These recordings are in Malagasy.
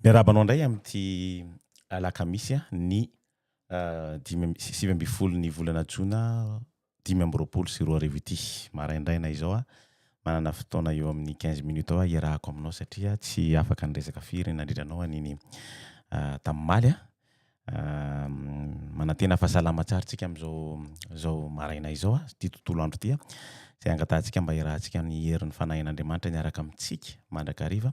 Miarahaba anao indray amin'ity alakamisy ny dimy amby sivy ambin'ny folo ny volana jona dimy amby roapolo sy roa arivo ity. Maraindraina izao aho manana fotoana eo amin'ny quinze minutes eo aho hiarahako aminao satria tsy afaka niresaka firy nandritra anao an'iny tamin'ny omaly aho. manantena fa salama tsara tsika amin'izao maraina izao, ity tontolo andro ity, izay angatahantsika mba hiarahantsika amin'ny herin'ny Fanahin'Andriamanitra niaraka amintsika mandrakariva,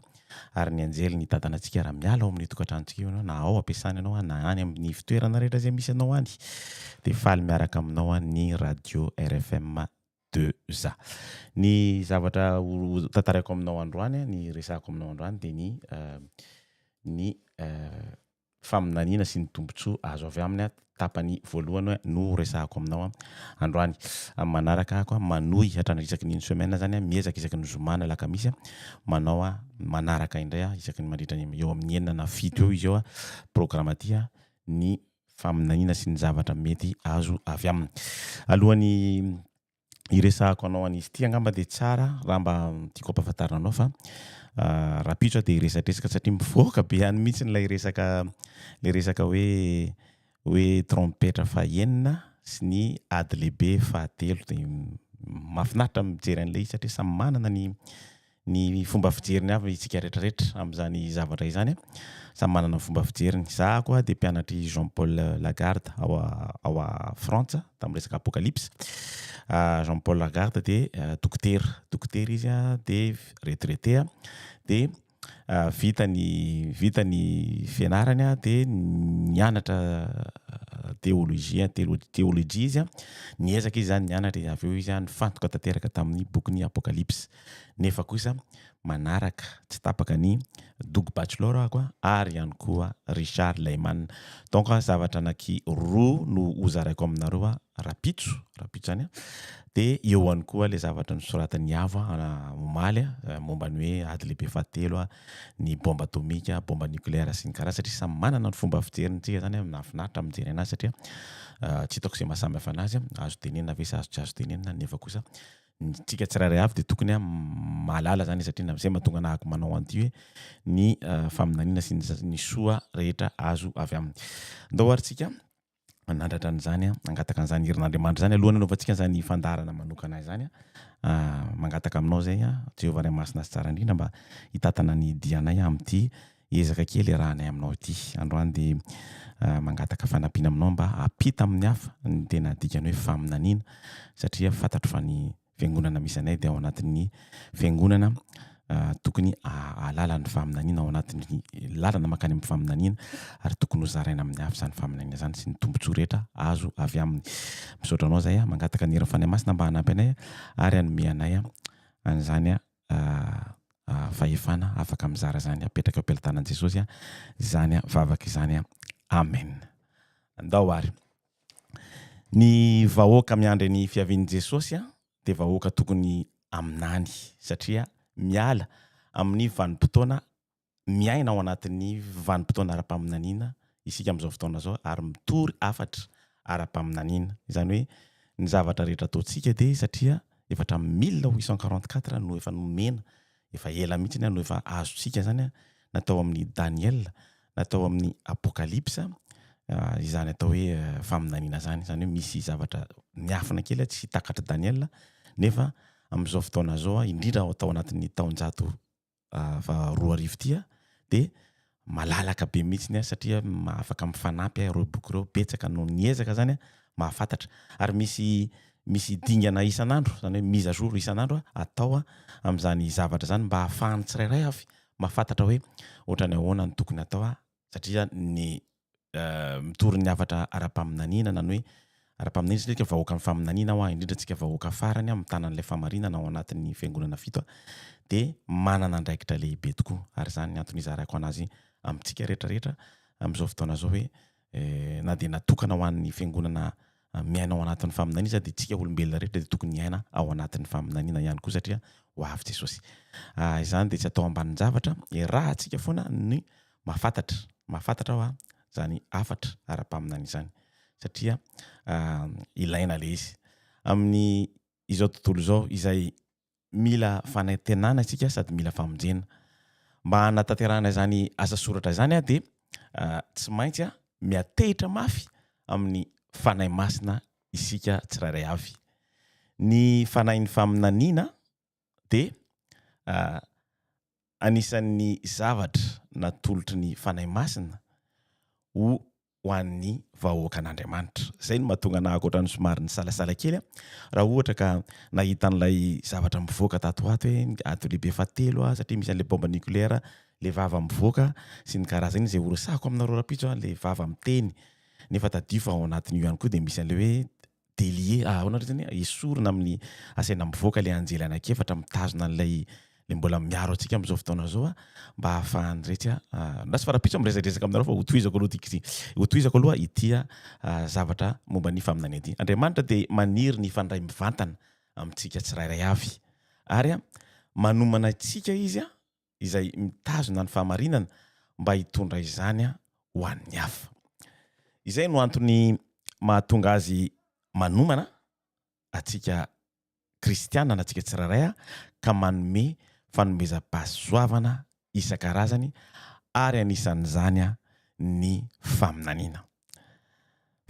ary ny anjeliny hitantana antsika raha miala ao amin'io tokantranontsika io ianao, na ao am-piasana ianao, na any amin'ny ivon-toerana rehetra izay misy anao any, dia faly miaraka aminao ny Radio RFM. de za. Ny zavatra ho tantaraiko aminao androany, ny resahako aminao androany dia ny ny faminaniana sy ny tombontsoa azo avy aminy tapany voalohany no ho resahako aminao androany. Amin'ny manaraka ako manohy hatrany isaky ny une semaine zany miezaka isaky ny zoma na alakamisy manao manaraka indray isaky ny mandritra ny eo amin'ny enina na fito eo izy eo programme ty ny faminaniana sy ny zavatra mety azo avy aminy. Alohan'ny hiresahako anao an'izy ity angamba dia tsara raha mba tiako ampahafantarina anao fa rahampitso aho dia hiresadresaka satria mivoaka be any mihitsy ny ilay resaka ilay resaka hoe hoe trompetra fahenina sy ny ady lehibe fahatelo dia mahafinaritra mijery an'ilay izy satria samy manana ny ny fomba fijeriny avy isika rehetra rehetra amin'izany zavatra izany. Samy manana ny fomba fijeriny. Za koa dia mpianatr'i Jean Paul Lagarde ao ao à Frantsa tamin'ny resaka apocalypse. Jean Paul Lagarde dia dokotera, dokotera izy dia retraité dia vita ny vita ny fianarany dia nianatra teolojia teolojia izy, niezaka izy izany nianatra dia avy eo izy nifantoka tanteraka tamin'ny bokin'ny apocalypse. nefa kosa manaraka tsy tapaka ny Doug Batchelor ako ary ihany koa Richard Lehman. Donc zavatra anaky roa no ho zaraiko aminareo rapitso, rapitso zany de eo ihany koa le zavatra nosoratan'i Avo omaly momba ny hoe ady lehibe fahatelo, ny bomba atomika, bomba nucléaire sy ny kara satria samy manana ny fomba fijeriny tsika zany nahafinaritra ny mijery anazy satria tsy hitako ze maha samy hafa anazy, azo tenenina ve sa azo tsy azo tenenina nefa kosa Ntsika tsirairay avy dia tokony a mahalala zany satria na zay mahatonga anahako manao an'ity hoe ny faminaniana sy ny soa rehetra azo avy aminy. Ndao ary tsika manandratra an'izany a, mangataka an'izany herin'Andriamanitra zany alohan'ny anaovantsika an'izany fandaharana manokana izany a, mangataka aminao zay a, Jehovah Ray Masina sy Tsara Indrindra mba hitantana ny dianay amin'ity Ezaka kely iarahanay aminao ity androany dia mangataka fanampiana aminao mba hampita amin'ny hafa ny tena dikan'ny hoe faminaniana satria fantatro fa ny fiangonana misy anay dia ao anatin'ny fiangonana tokony ahalala ny faminaniana ao anatin'ny lalana mankany amin'ny faminaniana ary tokony hozaraina amin'ny hafa izany faminaniana izany sy ny tombontsoa rehetra azo avy aminy. Misaotra anao izay, mangataka ny heran'ny Fanahy Masina mba hanampy anay ary hanome anay an'izany fahefana afaka mizara izany apetraka eo am-pelotanan'i Jesosy izany vavaka izany. Amen. Andao ary. Ny vahoaka miandry ny fiavian'i Jesosy dia vahoaka tokony haminany satria miala amin'ny vanim-potoana miaina ao anatin'ny vanim-potoana ara-paminaniana isika amin'izao fotoana izao ary mitory hafatra ara-paminaniana. Izany hoe ny zavatra rehetra ataontsika dia satria efa hatramin'ny mille huit cent quarante quatre no efa nomena, efa ela mihitsy no efa azontsika izany na tao amin'ny Daniela na tao amin'ny Apokalypsa izany atao hoe faminaniana izany. Izany hoe misy zavatra miafina kely tsy takatr'i Daniela nefa amin'izao fotoana izao indrindra tao anatin'ny taonjato roa arivo ity dia malalaka be mihitsy aho satria afaka mifanampy ireo boky ireo betsaka no niezaka zany aho mba hahafantatra ary misy misy dingana isan'andro zany hoe mise à jour isan'andro atao amin'izany zavatra izany mba hahafahan'ny tsirairay avy mahafantatra hoe ohatran'ny ahoana no tokony atao satria ny mitory ny hafatra ara-paminaniana na ny hoe ara-paminaniana satria tsika vahoaka ny faminaniana hoa indrindra tsika vahoaka farany a mitana an'ilay famarinana ao anatin'ny fiangonana fito a dia manana andraikitra lehibe tokoa ary izany ny antony izarako an'azy amintsika rehetra rehetra amin'izao fotoana izao hoe na dia natokana ho an'ny fiangonana miaina ao anatin'ny faminaniana izy dia isika olombelona rehetra dia tokony hiaina ao anatin'ny faminaniana ihany koa satria ho avy Jesosy. Ah, izany dia tsy atao ambanin-javatra, iarahantsika foana ny mahafantatra, mahafantatra hoa izany hafatra ara-paminaniana izany satria ah, ilaina ilay izy. Amin'ny izao tontolo izao izay mila fanantenana isika sady mila famonjena. Mba hanatanterahana izany asa soratra izany aho dia tsy maintsy aho miatehitra mafy amin'ny Fanahy Masina isika tsirairay avy. Ny Fanahin'ny faminaniana dia Anisan'ny zavatra natolotry ny Fanahy Masina ho ho an'ny vahoakan'Andriamanitra. Izay no mahatonga anahy ohatran'ny somary nisalasala kely raha ohatra ka nahita an'ilay zavatra mivoaka tato ho ato hoe ady lehibe fahatelo satria misy an'ilay baomba nucléaire, ilay vava mivoaka sy ny karazany. Izay horesahiko aminareo rahampitso ilay vava miteny nefa tadidio fa ao anatin'io ihany koa dia misy an'ilay hoe délié ah ahoana indray zany esorina amin'ny asaina mivoaka ilay anjely anankiefatra mitazona an'ilay le mbola miaro antsika amin'izao fotoana izao ah mba hahafahany rehetra ah lasa fa rapitso miresadresaka aminareo fa hotohizako aloha ity hotohizako aloha ity ah zavatra momba ny faminaniana ity Andriamanitra dia maniry ny hifandray mivantana amintsika tsirairay avy ary ah manomana antsika izy ah izay mitazona ny fahamarinana mba hitondra izany ho an'ny hafa. Izay no antony mahatonga azy manomana antsika kristiana na antsika tsirairay ka manome fanomezam-pahasoavana isan-karazany ary anisan'izany ny faminaniana.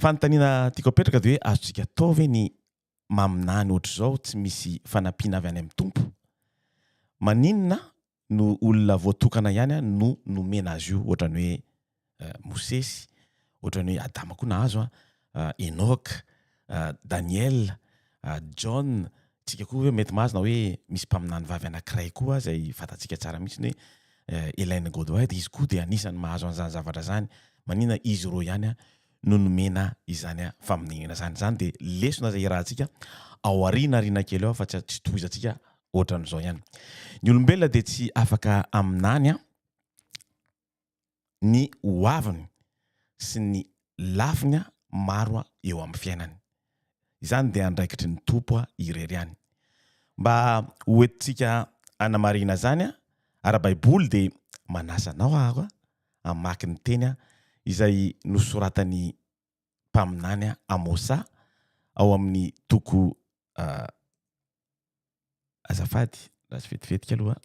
Fanontaniana tiako apetraka dia hoe azontsika atao ve ny maminany ohatr'izao tsy misy fanampiana avy any amin'ny Tompo? Maninona no olona voatokana ihany no nomena azy io ohatran'ny hoe Mosesy, ohatran'ny hoe Adama koa nahazo a, Enoka, Daniela, Jaona, tsika koa hoe mety mahazo na hoe misy mpaminany vavy anankiray koa izay fantatsika tsara mihitsy hoe Elaine Godwin dia izy koa dia anisan'ny mahazo an'izany zavatra izany, maninona izy roa ihany no nomena izany faminaniana izany. Izany dia lesona izay iarahantsika ao aoriana aoriana kely ao fa tsy tsy tohizantsika ohatran'izao ihany. Ny olombelona dia tsy afaka aminany ny hoaviny sy ny lafiny maro eo amin'ny fiainany. Izany dia andraikitry ny Tompo irery ihany. Mba hoentintsika hanamarina izany ara-baiboly dia manasa anao aho hamaky ny teny izay nosoratan'ny mpaminany Amosa ao amin'ny toko azafady raha tsy vetivetika aloha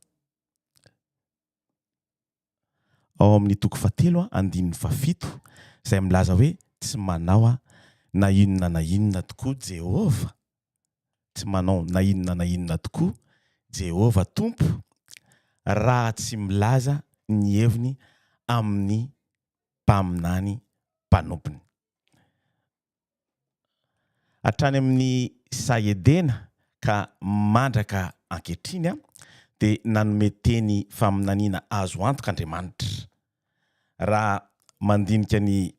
ao amin'ny toko fahatelo andininy fahafito izay milaza hoe tsy manao na inona na inona tokoa Jehovah tsy manao na inona na inona tokoa Jehovah Tompo raha tsy milaza ny heviny amin'ny mpaminany mpanompony. Hatrany amin'ny saha Edena ka mandraka ankehitriny dia nanome teny faminaniana azo antoka Andriamanitra. Raha mandinika ny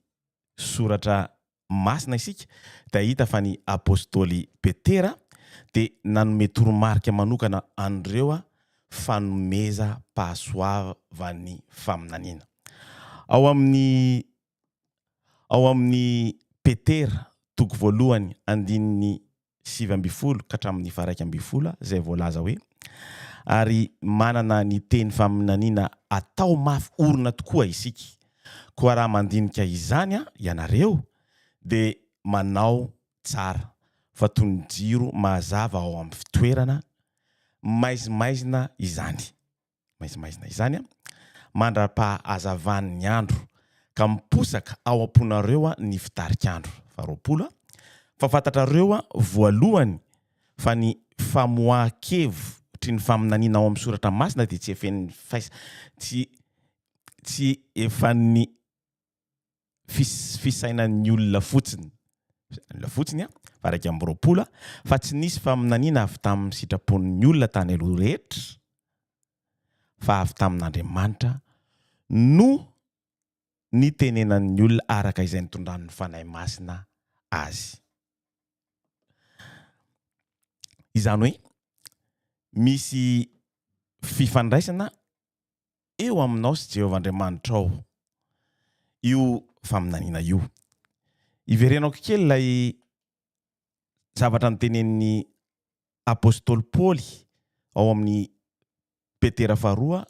soratra masina isika dia hahita fa ny apostoly Petera dia nanome toromarika manokana an'ireo fanomezam-pahasoavan'ny faminaniana. Ao amin'ny ao amin'ny Petera, toko voalohany, andininy sivy ambin'ny folo ka hatramin'ny faha-iraika ambin'ny folo izay voalaza hoe, Ary manana ny teny faminaniana atao mafy orina tokoa isika. Koa raha mandinika izany ianareo, dia manao tsara, fa toy ny jiro mazava ao amin'ny fitoerana maizimaizina izany. maizimaizina izany an, mandra-pahazavan'ny andro, ka miposaka ao am-ponareo ny fitarik'andro faharoapolo, fa fantatrareo voalohany fa ny famoahan-kevitry ny faminaniana ao amin'ny soratra masina dia tsy efen'ny faisa, tsy, tsy efen'ny fisainan'ny olona fotsiny olona fotsiny a varaika amby roapolo a fa tsy nisy faminaniana avy tamin'ny sitrapon'ny olona tany aloha rehetra fa avy tamin'Andriamanitra no nitenenan'ny olona araka izay nitondran'ny Fanahy Masina azy. Izany hoe misy fifandraisana eo aminao sy Jehovah Andriamanitrao io faminaniana io. Iverenako kely ilay zavatra notenenin'ny apostoly Paoly ao amin'ny Petera faharoa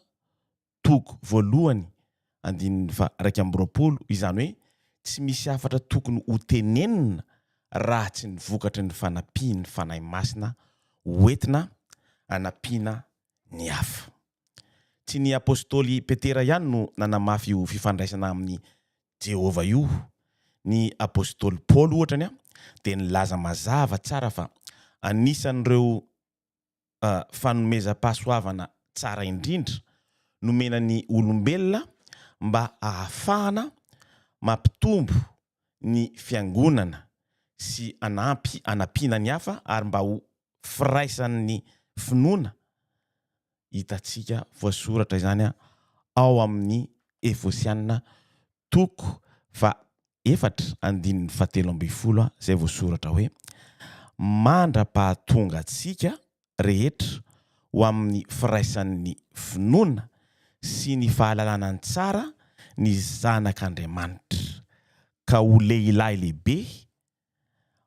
toko voalohany andininy faha-iraika amby roapolo, izany hoe tsy misy hafatra tokony hotenenina raha tsy ny vokatry ny fanampian'ny Fanahy Masina hoentina hanampiana ny hafa. Tsy ny apostoly Petera ihany no nanamafy io fifandraisana amin'i Jehovah io. Ny apostoly Paoly, ohatra, dia nilaza mazava tsara fa anisan'ireo fanomezam-pahasoavana tsara indrindra nomena ny olombelona mba hahafahana mampitombo ny Fiangonana sy hanampy hanampiana ny hafa ary mba ho firaisan'ny finoana, hitantsika voasoratra izany ao amin'ny Efosiana toko fahaefatra andininy fahatelo ambin'ny folo izay voasoratra hoe, Mandra-pahatonga antsika rehetra ho amin'ny firaisan'ny finoana sy ny fahalalana ny tsara ny Zanak'Andriamanitra, ka ho lehilahy lehibe,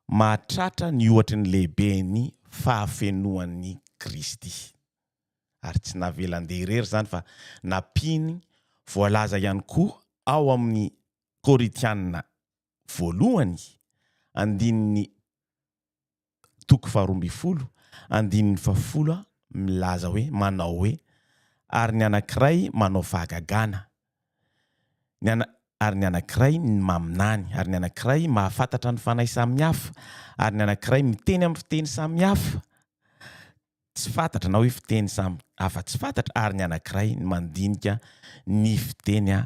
mahatratra ny ohatry ny lehiben'ny fahafenoan'i Kristy. Ary tsy navelan-dia irery izany fa nampiany voalaza ihany koa ao amin'ny Korintiana Voalohany, andininy toko faharoa ambin'ny folo andininy fahafolo milaza hoe, manao hoe, Ary ny anankiray manao fahagagana, ny ana, ary ny anankiray maminany, ary ny anankiray mahafantatra ny fanahy samy hafa, ary ny anankiray miteny amin'ny fiteny samy hafa tsy fantatra na hoe fiteny samy hafa tsy fantatra, ary ny anankiray mandinika ny fiteny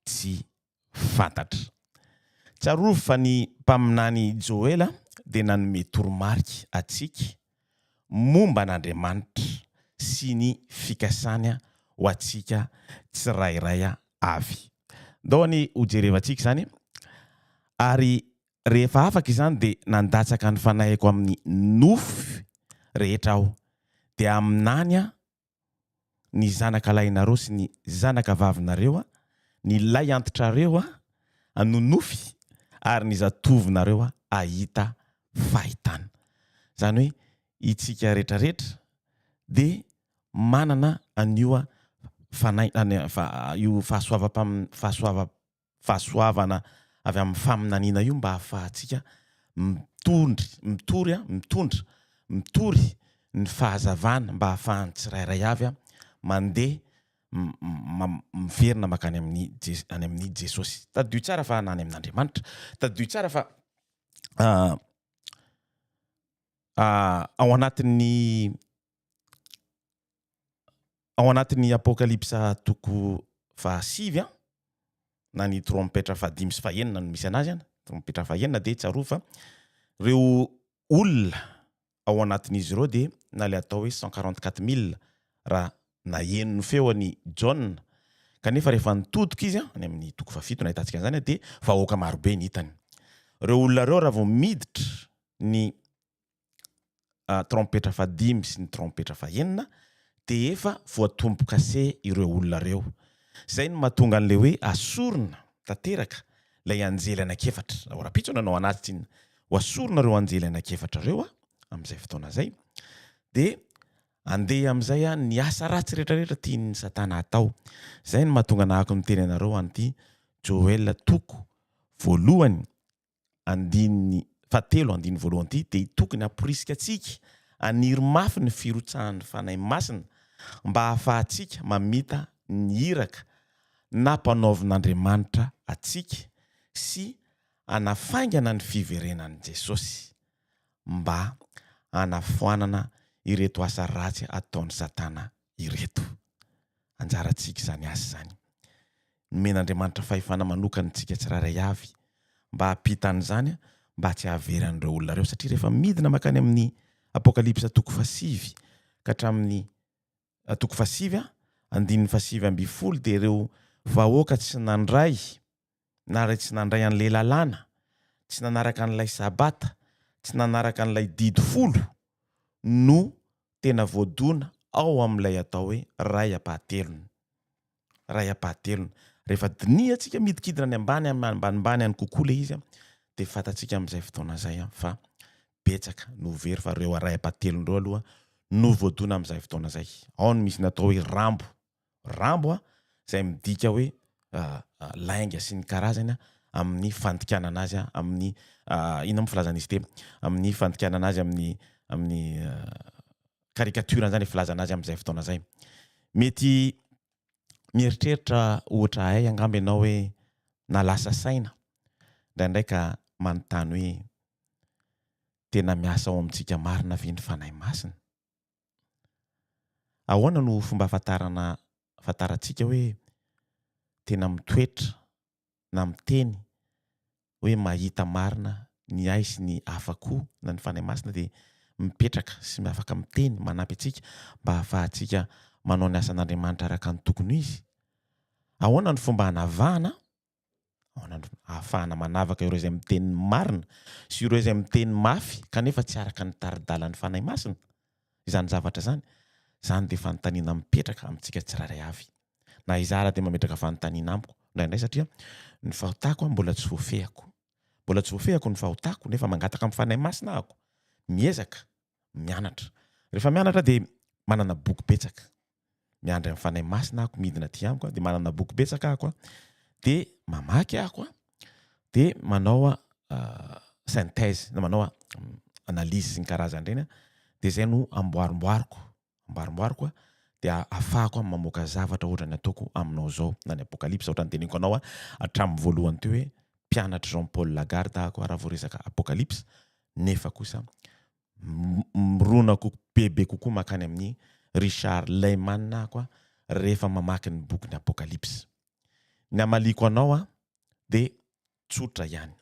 tsy fantatra. Tsarovy fa ny mpaminany Joela dia nanome toromarika antsika momba an'Andriamanitra sy ny fikasany ho antsika tsirairay avy. Ndao anie hojerevantsika izany. Ary rehefa afaka izany dia nandatsaka ny fanahiko amin'ny nofy rehetra aho, dia amin'any aho ny zanaka lahinareo sy ny zanaka vavinareo, ny lay antitrareo hanonofy ary ny zatovinareo hahita fahitana. Izany hoe itsika rehetra rehetra dia manana an'io fanahy, io fahasoavam-pahasoavam-. fahasoavana avy amin'ny faminaniana io mba hahafahantsika mitondry, mitory a, mitondra, mitory ny fahazavana mba hahafahan'ny tsirairay avy mandeha miverina mankany amin'ny any amin'i Jesosy. Tadidio tsara fa na any amin'Andriamanitra. Tadidio tsara fa ao anatin'ny ao anatin'ny Apokalypsa toko fahasivy na ny trompetra fahadimy sy fahenina no misy anazy an, trompetra fahenina dia tsarovy fa ireo olona ao anatin'izy ireo dia na ilay atao hoe cent quarante quatre mille raha naheno ny feony Jaona kanefa rehefa nitodika izy any amin'ny toko fahafito no ahitantsika an'izany dia vahoaka marobe ny hitany. Ireo olona ireo raha vao miditra ny trompetra fahadimy sy ny trompetra fahenina dia efa voatombokase ireo olona ireo. Izay no mahatonga an'ilay hoe asorina tanteraka ilay anjely anankiefatra. Raha rahampitso no anao anazy tsinona, ho asorina ireo anjely anankiefatra ireo amin'izay fotoana izay. Dia handeha amin'izay ny asa ratsy rehetrarehetra tian'i Satana hatao. Izay no mahatonga nahako niteny anareo an'ity Joel toko voalohany andininy fahatelo andininy voalohany ity dia tokony hamporisika antsika haniry mafy ny firotsahan'ny Fanahy Masina mba hahafahantsika mamita ny iraka nampanaovin'Andriamanitra antsika sy hanafaingana ny fiverenan'i Jesosy mba hanafoanana ireto asa ratsy ataon'i Satana ireto. Anjarantsika izany asa izany. Nomen'Andriamanitra fahefana manokana antsika tsirairay avy mba hampita an'izany mba tsy hahavery an'ireo olona ireo satria rehefa midina mankany amin'ny Apokalypsa toko fahasivy ka hatramin'ny toko fahasivy andininy fahasivy ambin'ny folo dia ireo vahoaka tsy nandray na ray tsy nandray an'ilay lalàna, tsy nanaraka an'ilay sabata, tsy nanaraka an'ilay didy folo no tena voadona ao amin'ilay atao hoe ray ampahatelony. Ray ampahatelony. Rehefa dinihantsika midikidina any ambany ambanimbany any kokoa ilay izy dia fantatsika amin'izay fotoana izay fa betsaka no very fa ireo ray ampahatelony ireo aloha no voadona amin'izay fotoana izay. Ao no misy ny atao hoe rambo. Rambo a, izay midika hoe lainga sy ny karazany amin'ny fandikanana azy amin'ny inona moa filazana izy ity amin'ny fandikanana azy amin'ny amin'ny caricature izany filazana azy amin'izay fotoana izay. Mety mieritreritra ohatra ahy angamba ianao hoe na lasa saina indraindray ka manontany hoe tena miasa ao amintsika marina ve ny Fanahy Masina? Ahoana no fomba ahafantarana ahafantarantsika hoe tena mitoetra na miteny hoe mahita marina ny ahy sy ny hafa koa na ny Fanahy Masina dia mipetraka sy afaka miteny manampy antsika mba hahafahantsika manao ny asan'Andriamanitra araka ny tokony ho izy? Ahoana no fomba hanavahana ao an'androny, ahafahana manavaka ireo izay miteny ny marina sy ireo izay miteny mafy kanefa tsy araka ny tari-dalan'ny Fanahy Masina izany zavatra izany. Izany dia fanontaniana mipetraka amintsika tsirairay avy. Na izaho ary dia mametraka fanontaniana amiko indraindray satria ny fahotako mbola tsy voafehiko. Mbola tsy voafehiko ny fahotako nefa mangataka amin'ny Fanahy Masina aho, miezaka mianatra. Rehefa mianatra dia manana boky betsaka. miandry ny Fanahy Masina ako midina aty amiko de manana boky betsaka ako de mamaky ako de manao synthèse na manao analyse sy ny karazany ireny de zay no amboarimboariko amboarimboariko de afahako mamoaka zavatra ohatra ny ataoko aminao zao na ny apocalypse ohatra ny teneniko anao hatramin'ny voalohany teo hoe mpianatry Jean Paul Lagarde ako raha vao resaka apocalypse nefa kosa mirona bebe kokoa mankany amin'i Richard Lehman aho rehefa mamaky ny bokin'ny Apokalypsy. Ny hamaliako anao dia tsotra ihany.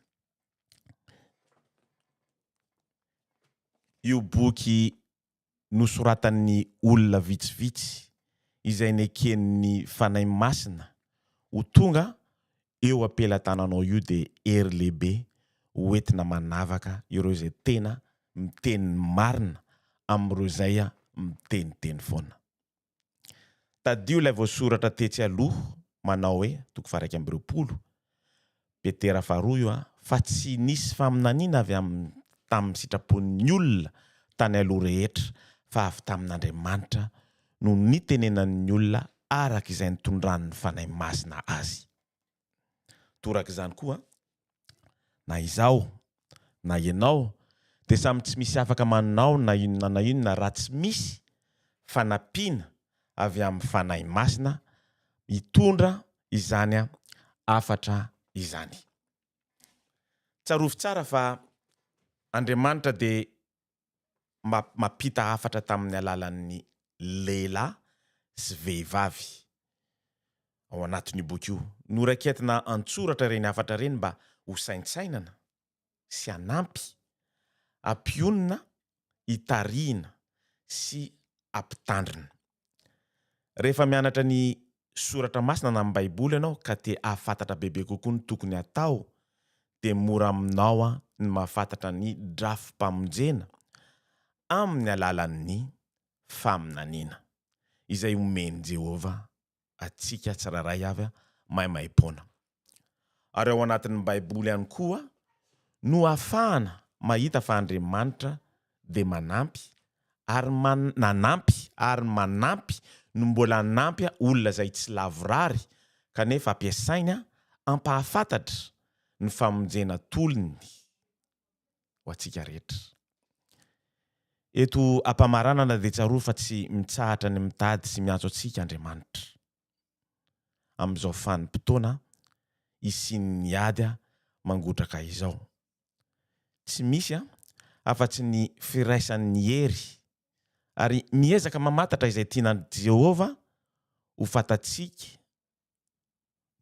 Io boky nosoratan'ny olona vitsivitsy izay neken'ny Fanahy Masina ho tonga eo am-pelatananao io dia hery lehibe ho entina manavaka ireo izay tena miteny ny marina amin'ireo izay miteniteny foana. Tadidio ilay voasoratra tetsy aloha manao hoe, toko faha-iraika amby roapolo, Petera faharoa io, fa tsy nisy faminaniana avy amin'ny tamin'ny sitrapon'ny olona tany aloha rehetra fa avy tamin'Andriamanitra no nitenenan'ny olona araka izay nitondran'ny Fanahy Masina azy. Torak'izany koa, na izaho na ianao dia samy tsy misy afaka manao na inona na inona raha tsy misy fanampiana avy amin'ny Fanahy Masina hitondra izany hafatra izany. Tsarovy tsara fa Andriamanitra dia mba mampita hafatra tamin'ny alalan'ny lehilahy sy vehivavy ao anatin'io boky io. Noraiketina an-tsoratra ireny hafatra ireny mba hosaintsainana sy hanampy ampionona hitarihina sy hampitandrina. Rehefa mianatra ny soratra masina na ny baiboly ianao ka te hahafantatra bebe kokoa ny tokony hatao dia mora aminao ny mahafantatra ny drafi-pamonjena amin'ny alalan'ny faminaniana izay omen'i Jehovah antsika tsirairay avy maimaimpoana. ary ao anatin'ny baiboly ihany koa no afahana mahita fa Andriamanitra dia manampy ary nanampy ary manampy no mbola hanampy olona izay tsy lavorary kanefa ampiasainy ampahafantatra ny famonjena tolony ho antsika rehetra. Eto ampamaranana dia tsarovy fa tsy mitsahatra ny mitady sy miantso antsika Andriamanitra. amin'izao vanim-potoana hisian'ny ady mangotraka izao. Tsy misy afa-tsy ny firaisan'ny hery, ary miezaka mamantatra izay tian'i Jehovah ho fantatsika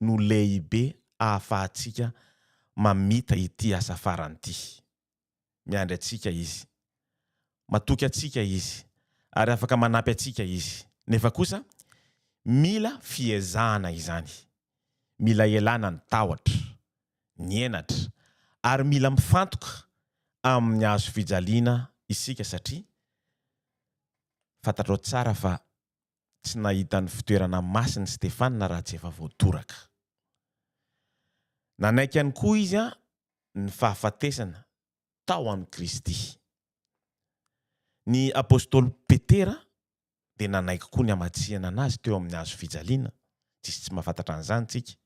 no lehibe ahafahantsika mamita ity asa farany ity. Miandry antsika Izy. Matoky antsika Izy, ary afaka manampy antsika Izy. Nefa kosa, mila fiezahana izany. Mila ialana ny tahotra, ny henatra, ary mila mifantoka amin'ny Hazo fijaliana isika, satria fantatrao tsara fa tsy nahita ny fitoerana masiny Stefana raha tsy efa voatoraka. Nanaiky ihany koa izy ny fahafatesana tao amin'i Kristy. Ny apostoly Petera dia nanaiky koa ny hamatsihana an'azy teo amin'ny hazo fijaliana, tsy misy tsy mahafantatra an'izany isika.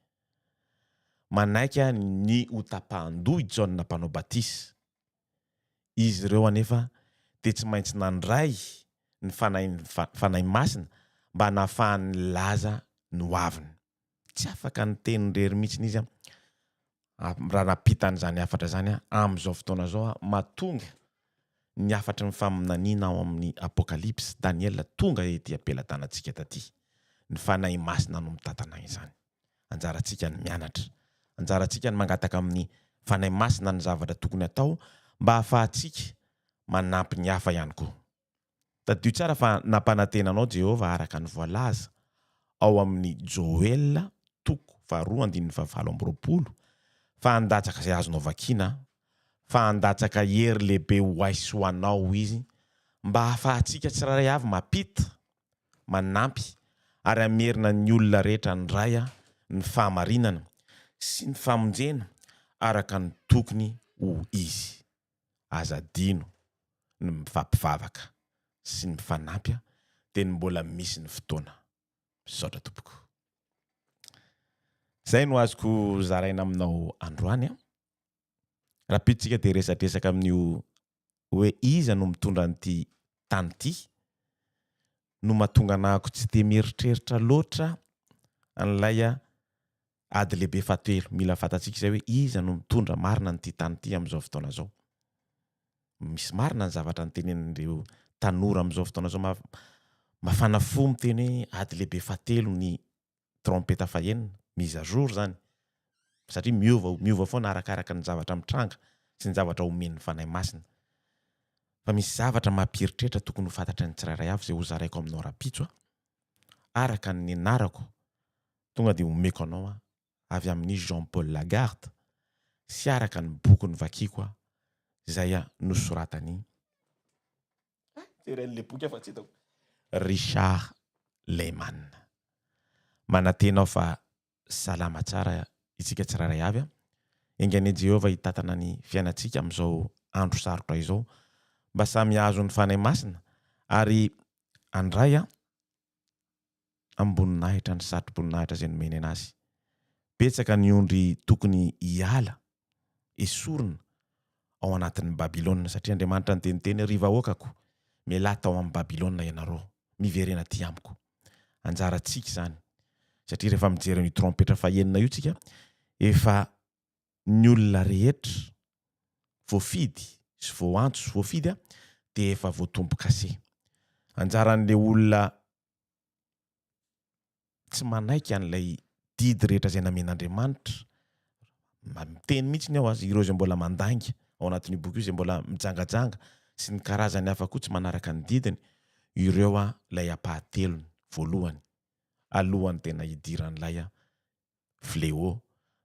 Manaiky àry ny ho tapahan-doha i Jaona Mpanao Batisa. Izy ireo anefa dia tsy maintsy nandray ny Fanahy Masina mba nahafahany nilaza ny hoaviny. tsy afaka niteny irery mihitsy izy raha nampita an'izany hafatra izany amin'izao fotoana izao aho, mahatonga ny hafatry ny faminaniana ao amin'ny Apokalypsy, Daniela, tonga ety am-pelatanantsika taty. Ny Fanahy Masina no mitantana izany. Anjarantsika ny mianatra. Anjarantsika ny mangataka amin'ny Fanahy Masina ny zavatra tokony atao mba hahafahantsika manampy ny hafa ihany koa. Tadidio tsara fa nampanantena anao Jehovah araka ny voalaza ao amin'ny Joela toko faharoa andininy fahavalo amby roapolo, fa handatsaka izay azonao vakiana, fa handatsaka hery lehibe ho ahy sy ho anao izy, mba hahafahantsika tsirairay avy mampita, manampy, ary hamerina ny olona rehetra handray ny fahamarinana sy ny famonjena araka ny tokony ho izy. aza adino ny mifampivavaka sy ny mifanampy a dia ny mbola misy ny fotoana. Misaotra tompoko. Zay no azoko zaraina aminao androany a. Rapidintsika dia resadresaka amin'io hoe iza no mitondra an'ity tany ity no mahatonga anahako tsy dia mieritreritra loatra an'ilay Ady lehibe fahatelo, mila fantatsika izay hoe iza no mitondra marina an'ity tany ity amin'izao fotoana izao. Misy marina ny zavatra nitenenin'ireo tanora amin'izao fotoana izao ma- mafana fo miteny hoe ady lehibe fahatelo ny trompeta fahenina, mise à jour izany, satria miova miova foana arakaraka ny zavatra mitranga sy ny zavatra omen'ny Fanahy Masina. Fa misy zavatra mampieritreritra tokony ho fantatry ny tsirairay avy izay hozaraiko aminao rahampitso a! araka ny nianarako Tonga dia omeko anao aho avy amin'i Jean Paul Lagarde sy araka ny boky novakiako aho izay nosoratan'i. Jereo an'ilay boky aho fa tsy hitako. Richard Lehman. Manantena aho fa salama tsara isika tsirairay avy. Enga anie Jehovah hitantana ny fiainantsika amin'izao andro sarotra izao mba samy hahazo ny Fanahy Masina ary handray amim-boninahitra ny satroboninahitra izay nomeny an'azy. Betsaka ny ondry tokony hiala, esorina, ao anatin'i Babylona, satria Andriamanitra niteniteny hoe, Ry vahoakako, mialà tao amin'i Babylona ianareo, miverena atỳ amiko. Anjarantsika izany, satria rehefa mijery an'io trompetra fahenina io isika, efa ny olona rehetra voafidy sy voantso sy voafidy a dia efa voatombokase. Anjaran'ilay olona tsy manaiky an'ilay didy rehetra izay namen'Andriamanitra, miteny mihitsy ny ao a, ireo izay mbola mandainga ao anatin'io boky io, izay mbola mijangajanga sy ny karazany hafa koa tsy manaraka ny didiny, ireo a ilay ampahatelony, voalohany, alohan'ny tena hidiran'ilay fléau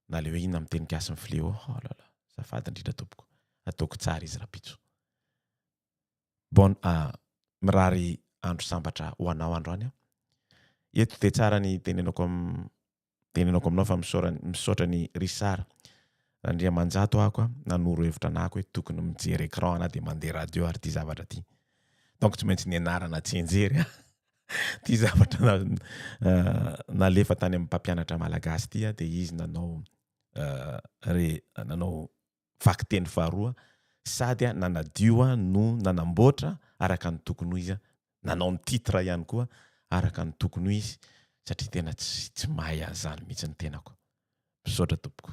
na le hoe inona amin'ny teny gasy ny fléau oh la la azafady indrindra tompoko ataoko tsara izy rapitso bon ah mirary andro sambatra ho anao andro any ah eto dia tsara ny tenenako am tenenako aminao fa misaora misaotra ny Richard Randriamanjato ako ah nanoro hevitra anako hoe tokony mijery écran ana dia mandeha radio ary ity zavatra ity donc tsy maintsy nianarana tsy hianjery ah Ity zavatra na, uh, nalefa tany amin'ny mpampianatra malagasy ity dia izy nanao uh, re, nanao vakiteny faharoa sady nanadio no nanamboatra araka ny tokony ho izy nanao ny titre ihany koa araka ny tokony ho izy satria tena tsy tsy mahay an'izany mihitsy ny tenako misaotra tompoko